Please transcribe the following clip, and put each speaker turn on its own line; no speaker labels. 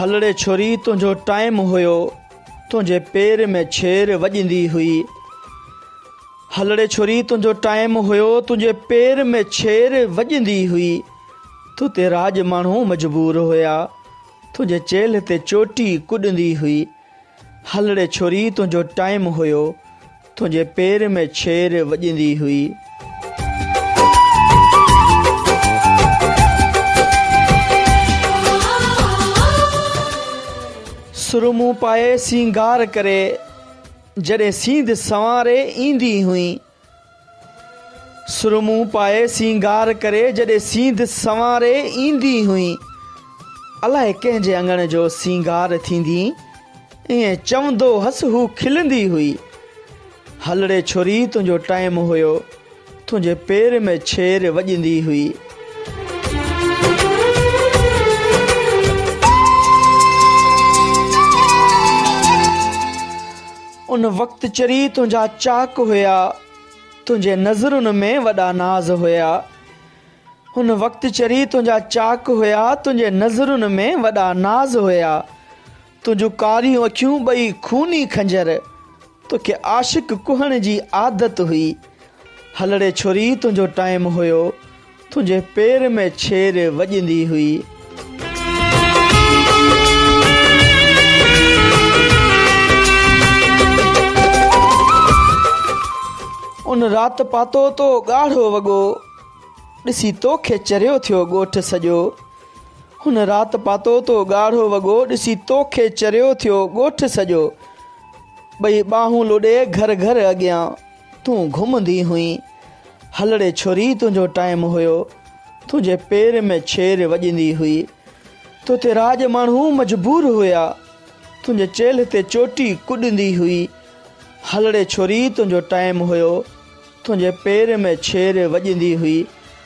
هلڙي ڇوري تنهنجو ٽائيم هيو تنهنجي پير ۾ ڇير وڄندي هئي هلڙي ڇوري تنهنجو ٽائيم هيو تنهنجي پير ۾ ڇير وڄندي هئي تو تي راڄ ماڻهو مجبور هيا تنهنجي چيلهه تي چوٽي ڪڏندي هئي هلڙي ڇوري تنهنجو ٽائيم هيو تنهنجي پير ۾ ڇير وڄندي هئي. سرمون پائي سينگار ڪري جڏهن سينڌ سنواري ايندي هئي. سرمون پائي سينگار ڪري جڏهن سينڌ سنواري ايندي هئين. الائي ڪنهن جي اڱڻ جو سينگار ٿيندي ائين چوندو هئس هو کلندي هئي. هلڙي ڇوري تنهنجو ٽائيم هيو تنهنجي پير ۾ ڇير وڄندي هئي. ان وقت چري تنهنجا چاڪ هيا تنهنجي نظرن ۾ وڏا ناز هيا ان وقت چري تنهنجا چاڪ هيا تنهنجي نظرن ۾ وڏا ناز هيا تنهنجون ڪاريون اکيون ٻئي خوني خنجر توکي عاشق ڪهڻ جي عادت هئي هلڙي ڇوري تنهنجو ٽائيم هيو تنهنجي پير ۾ ڇير وڄندي هئي. ان رات پاتو تو ڳاڙهو وڳو. ڏسي توکي چريو ٿيو ڳوٺ سڄو. هن رات پاتو تو ڳاڙهو وڳو. ڏسي توکي چريو ٿيو ڳوٺ سڄو. ٻئي ٻانهون لڏي گهر گهر اڳيان. تون گهمندي هئين هلڙي ڇوري تنهنجو ٽائيم هيو تنهنجي پير ۾ ڇير وڄندي هئي توتي راڄ ماڻهو مجبور هيا تنهنجي چيلهه تي چوٽي ڪڏندي هئي هلڙي ڇوري تنهنجو ٽائيم هيو تنهنجي پير ۾ ڇير وڄندي هئي